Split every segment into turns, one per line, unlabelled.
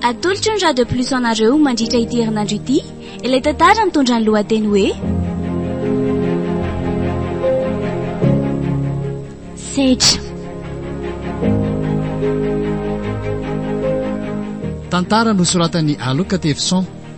Atolotry ny Radio Plus anareo mandritra ity herinandro ity ilay tantara mitondra ny lohateny hoe Sedra.
Tantara nosoratan'i Aloka Tevison.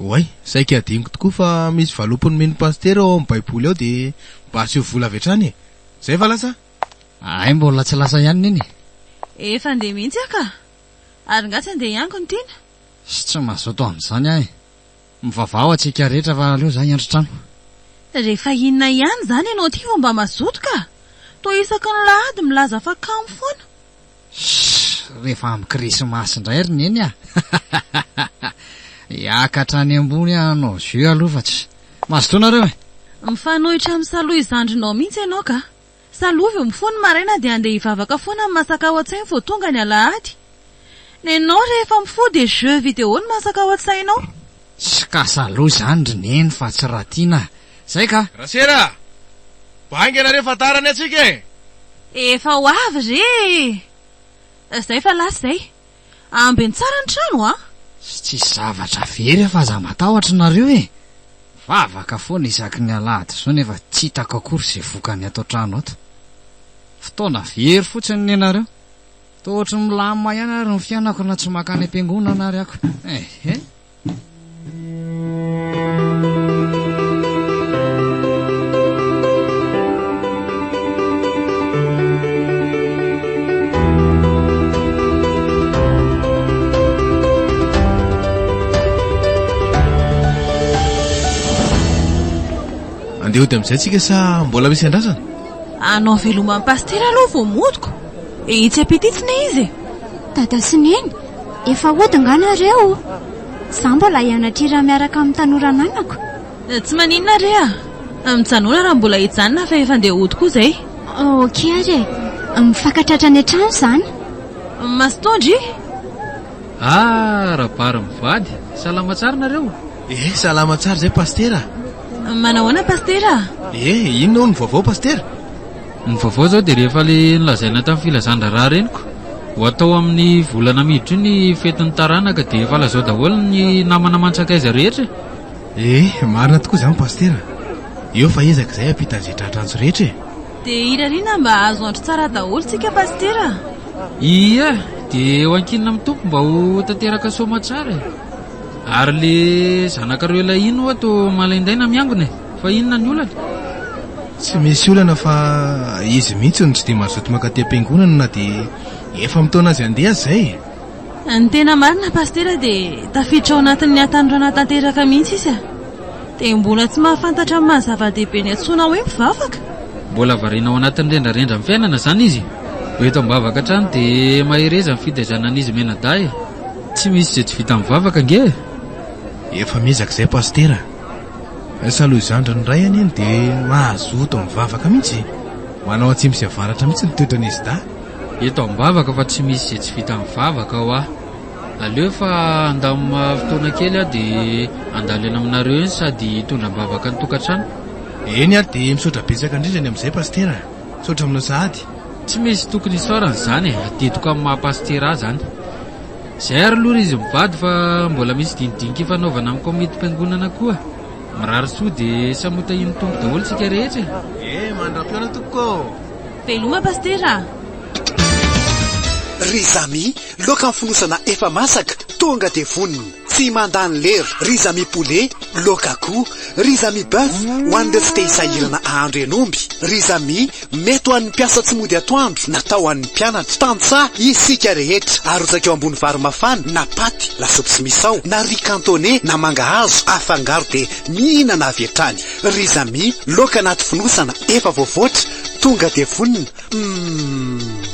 Oay, saika
adinoko tokoa fa misy valopin'ny mino pasitera ao amin'ny baiboly ao dia mba asio vola avy hatrany e! Zay va lasa? Hay mbola
tsy lasa ihany neny e! Efa andeha
mihitsy aho ka! Ary nga tsy andeha hiango ny tiana? Sy tsy mazoto
amin'izany aho e! Mivavaha ho antsika rehetra fa aleo za hiandry trano. Rehefa
inona ihany izany ianao ity vao mba mazoto ka! Toa isaky ny lahady milaza fa kamo foana! Shh!
Rehefa amin'ny Krismasy indray ry Neny a! Hiakatra any ambony hanao jeu aloha fa tsy. Mazotoa nareo e! Mifanohitra amin'ny
salohy zandrinao mihitsy ianao ka! Salohy vao mifoha ny maraina dia handeha hivavaka foana amin'ny masaka ao an-tsainy vao tonga ny alahady. Nenao rehefa mifoha dia jeux vidéo no masaka ao an-tsainao. Tsy kasa
aloha izany ry neny fa tsy raha tiana a! Izay ka! Rasera a!
Mba haingana re fa tara ny antsika e! Efa ho
avy re e! Izay fa lasa izay! Ambeno tsara ny trano a! Tsy tsisy zavatra
very aho fa aza matahotra nareo e! Vavaka foana isaky ny alahady izao nefa tsy hitako akory izay vokany ato an-trano ato. Fotoana very fotsiny nenareo. Toa ohatry ny milamina ihany ary ny fiainako na tsy mankany am-piangonana ary ako. Ehe.
Andeha hody amin'izay tsika sa mbola misy andrasana? Anao
veloma an'i Pasitera aloha vao modiko. Etsy ampita itsy ne izy e! Dada sy
Neny, efa hody angaha nareo? Za mbola hianatrira miaraka amin'ny tanora ananako. Tsy maninona
re a! Mijanona raha mbola hijanona fa efa ndeha hody koa zay. Ok ary e!
Mifankatratra any an-trano zany. Masotoandro
i! Ah!
Rabary mivady! Salama tsara nareo? Eh! Salama tsara
zay Pasitera a! Manahoana
Pasitera a! Eh! Inona hono ny
vaovao Pasitera? Ny vaovao
izao dia rehefa ilay nolazaina tamin'ny filazan-draharaha reniko ho hatao amin'ny volana miditra io ny fetin'ny taranaka dia efa lazao daholo ny namana aman-tsakaiza rehetra e! Eh!
Marina tokoa izany Pasitera. Eo fa ezaka izay hampitan'izay tratra antso rehetra e! Dia irariana
mba hahazo andro tsara daholo tsika Pasitera a! Ie!
Dia eo ankinina amin'ny Tompo mba ho tanteraka soamatsara e! Ary ilay zanakareo ilay iny ho'a toa malaindaina miangona e! Fa inona ny olana? Tsy
misy olana fa izy mihitsy no tsy dia mazoto mankaty am-piangonana na dia efa mitaona azy handeha aza e! Ny tena
marina Pasitera dia tafiditra ao anatin'ny hatanorana tanteraka mihitsy izy a! Dia mbola tsy mahafantatra ny maha zava-dehibe ny antsoina hoe mpivavaka? Mbola variana
ao anatin'ny rendrarendra ny fiainana izany izy. Vao eto am-bavaka hatrany dia mahereza ny fitaizana an'izy mianadahy e! Tsy misy izay tsy vita mivavaka ange e! Efa
miezaka izay Pasitera! Salohy zandriny iray anie no dia mazoto mivavaka mihitsy. Manao atsimo sy avaratra mihitsy ny toetran'izy dahy. Eto am-bavaka
fa tsy misy izay tsy vita amin'ny vavaka hoa. Aleo fa handamina fotoana kely aho dia handalo eny aminareo eny sady hitondra am-bavaka ny tokantrano. Eny ary
dia misaotra betsaka indrindra ny amin'izay Pasitera a! Misaotra aminao sahady. Tsy misy tokony
hisaorana izany e! Adidiko amin'ny maha-Pasitera ahy izany. Zay ary aloha ry izy mivady fa mbola misy dinidinika ifanaovana amin'ny kaomitim-piangonana koa. Mirary soa dia samy ho tahian'ny Tompo daholo tsika rehetra e! Ee, mandram-pihaona
tompoko ô! Veloma
Pasitera a!
Ry Zamy, loaka ny fonosana efa masaka, tonga dia vonona. Tsy mandany lera. Ry Zamy Poulet, loaka akoho. Ry Zamy Boeuf, ho an'ireo tsy te-hisahirana hahandro henomby. Ry Zamy. Mety ho an'ny mpiasa tsy mody atoandro na tao an'ny mpianatra. Tantsaha isika rehetra. Arotsaka eo ambony vary mafana na paty, lasopy tsy misao, na riz cantonais na mangahazo afangaro dia mihinana avy hatrany. Riz amis, laoka anaty fonosana efa voavoatra, tonga dia vonona. Humm.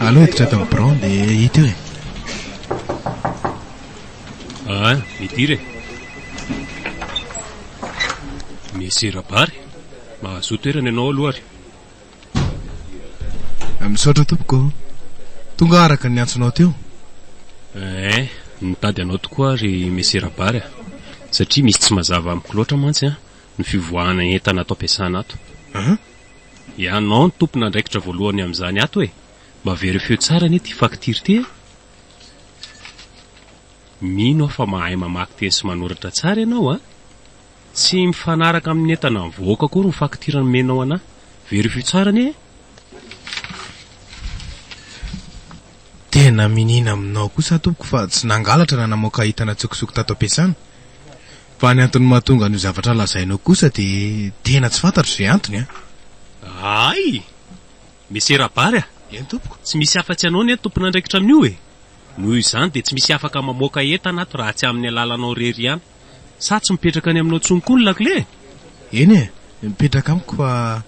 Aleo hiditra ato amin'ny birao dia hita eo e. Ah, midira e.
Monsieur Rabary, mahazo toerana ianao aloha ary. Ah,
misaotra tompoko. Tonga araka ny antsonao teo. Eh,
nitady anao tokoa ary Monsieur Rabary ah. Satria misy tsy mazava amiko loatra mantsy ah, ny fivoahana entana ato am-piasana ato. Ah? Ianao no tompon'andraikitra voalohany amin'izany ato e! Mba verifieo tsara anie ity faktira ity e! Mino aho fa mahay mamaky teny sy manoratra tsara ianao a! Tsy mifanaraka amin'ny entana nivoaka akory ny faktira nomenao an'ahy. Verifieo tsara anie e!
Tena miniana aminao kosa tompoko fa tsy nangalatra na namoaka entana tsokosoko tato am-piasana. Fa ny antony mahatonga an'io zavatra lazainao kosa dia tena tsy fantatro izay antony an! Ahay!
Monsieur Rabary a! Eny tompoko! Tsy
misy afa-tsy anao ny
tompon'andraikitra amin'io e! Noho izany dia tsy misy afaka mamoaka entana ato raha tsy amin'ny alalanao irery ihany. Sa tsy mipetraka any aminao intsony koa ny lakile e! Eny e!
Mipetraka amiko fa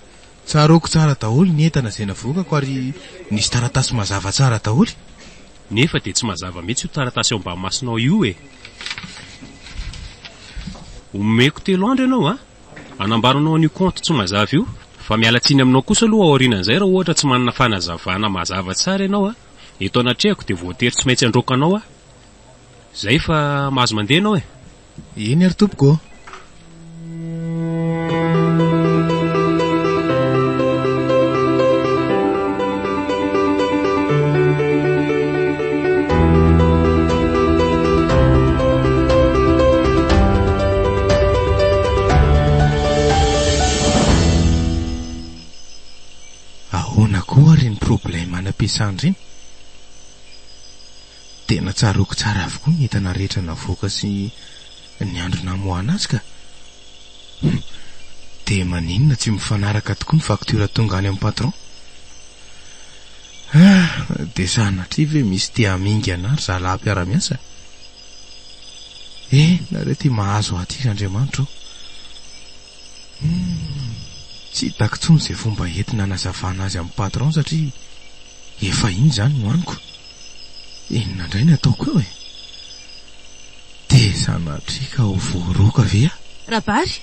Tsaroako tsara daholo ny entana izay navoakako ary nisy taratasy mazava tsara daholo. Nefa dia
tsy mazava mihitsy io taratasy eo ambany masonao io e! Omeko telo andro ianao a! Hanambara anao an'io kaonty tsy mazava io fa miala tsiny aminao kosa aloha aorianan'izay raha ohatra tsy manana fanazavana mazava tsara ianao a! Eto anatrehako dia voatery tsy maintsy handroaka anao aho. Izay fa mahazo mandeha ianao e! Eny ary tompoko
ô. Ahoana koa ary ny problème an'Ampiasandrina? Dia natsaroako tsara avokoa ny entana rehetra navoaka sy ny andro namoahana azy ka. Hum, dia maninona tsy mifanaraka tokoa ny facture tonga any amin'ny patron? Ah, dia sanatria ve misy te hamingana ry zalahy mpiara-miasa? Eh, nareo ity mahazo ahy ity ry Andriamanitra o. Hum, tsy hitako intsony izay fomba entina hanazavana azy amin'ny patron satria efa iny izany no haniko. Inona indray ny ataoko eo e? Dia sanatria ka ho voaroaka ve aho? Rabary!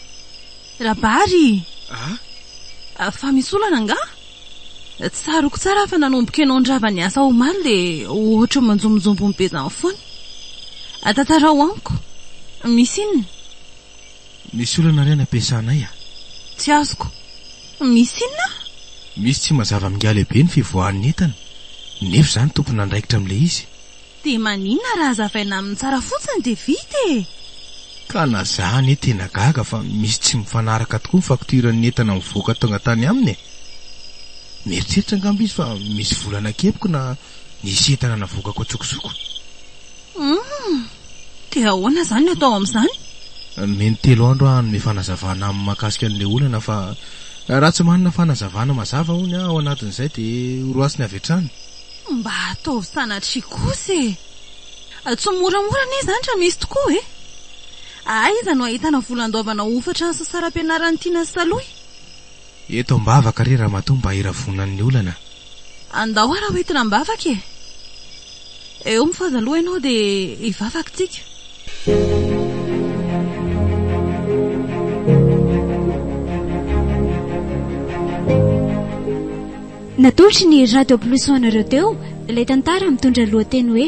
Rabary! Ah? Fa misy olana angaha? Tsaroako tsara fa nanomboka ianao nirava niasa omaly dia ohatry ny manjombonjombo ny bezan'ny fony. Tantarao amiko. Misy inona?
Misy olana re ny ampiasanay a! Tsy azoko.
Misy inona? Misy tsy
mazava amin'ingahy lehibe ny fivoahan'ny entana, nefa izaho no tompon'andraikitra amin'ilay izy. Dia maninona
raha hazavaina aminy tsara fotsiny dia vita e! Ka na
za anie tena gaga fa misy tsy mifanaraka tokoa ny faktioran'ny entana mivoaka tonga tany aminy e! Mieritreritra angamba izy fa misy vola nakepiko na nisy entana navoakako an-tsokosoko. Humm!
Dia ahoana izany ny atao amin'izany? Mety telo
andro aho hanome fanazavana aminy mahakasika an'ilay olana fa raha tsy manana fanazavana mazava hono aho ao anatin'izay dia horoasiny avy hatrany. Mba ataovy
sanatria kosa e! Tsy moramora anie izany raha misy tokoa e! Aiza no ahitana vola andoavana hofatra ny sasaram-pianaran'i Tiana sy Salohy? Eto
ambavaka re ramatoa mba hiravonany ny olana. Andao ary
hoentina ambavaka e! Eo mifohaza aloha ianao dia hivavaka tsika.
Natolotry ny Radio Plus ho anareo teo ilay tantara mitondra ny lohateny hoe.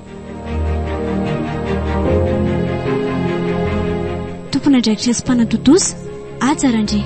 Tompon'andraikitra sy mpanatontosa, Haja Randria.